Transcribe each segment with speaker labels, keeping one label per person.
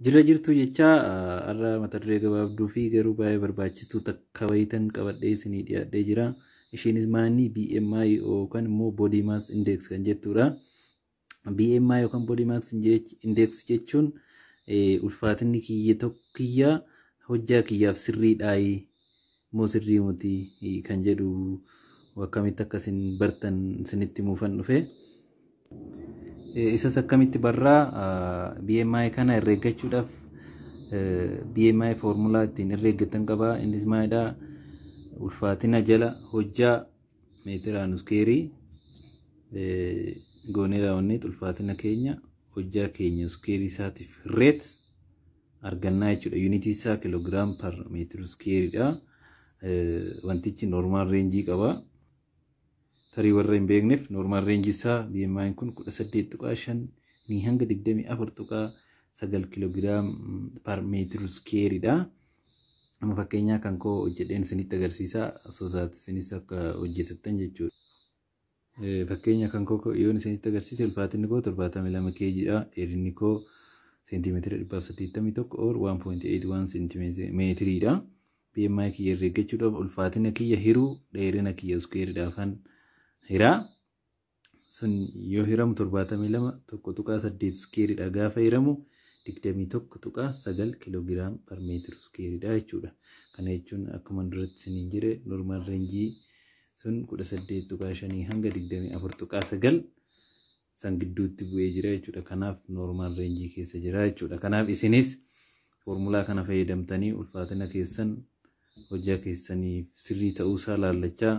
Speaker 1: Jirra jirtuu jechaa har'a mata duree gabaabduu fi garuu baay'ee barbaachistuu takka wayitan qabadhee isinii dhiyaadhee jira. Ishiinis maanni BMI yookaan immoo Body Mass Index kan jettudha. BMI yookaan Body Mass Index jechuun ulfaatinni kiyya tokko kiyya hojjaa kiyyaaf sirriidhaayi moo sirrii moti kan jedhu akkamitti akka isin bartan isinitti muufan dhufe. Isas akkamitti barraa BMI kana herreeggachuudhaaf BMI foormulaa ittiin herreeggatan qaba. Innis maalidha? Ulfaatina jala hojjaa meetiraan iskeerii goonee raawwanneet ulfaatina keenya hojjaa keenya iskeerii isaatiif reet argannaa jechuudha. Yuunitii isaa kiloogiraam per meetir iskeeridha. Wantichi noormaal reenjii qaba. Tarii warra hin beekneef noormaal reenjii isaa BMI kun 18.5 ni hanga 24.9 kiloogiraam per meetir iskeeridha. Amma fakkeenyaa kan koo hojjedheen isinitti agarsiisa. Sosaat isinis akka hojjetattan jechuudha. Fakkeenya kan koo yoon isinitti agarsiise ulfaatinni koo 72 kg dha. Dheerinni koo seentimeetira 181 or 1.81 seentimeetirii dha. BMI kiyya irra eeggachuudhaaf ulfaatina kiyya hiruu dheerina kiyya iskuweeriidhaafan hira. Sun yoo hiramu 72 1.8 iskuweeriidha gaafa hiramu 21.9 kiloogiraam per meetira iskuweeriidha jechuudha. Kana jechuun akkuma duratti isiniin jedhe normaal reenjii sun 18.5 hanga 24.9 san gidduutti bu'ee jira jechuudha. Kanaaf noormaal reenjii keessa jira jechuudha. Kanaaf isinis foormulaa kana fayyadamtanii ulfaatina keessan hojjaa keessaniif sirrii ta'uusaa laallachaa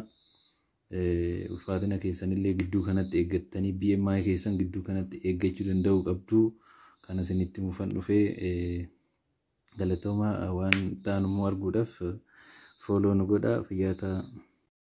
Speaker 1: ulfaatina keessanillee gidduu kanatti eeggattanii BMI keessan gidduu kanatti eeggachuu danda'uu qabdu. Kana isinitti mufan dhufee galatooma waan ta'an immoo arguudhaaf fooloo nu godha fayyaa ta'aa.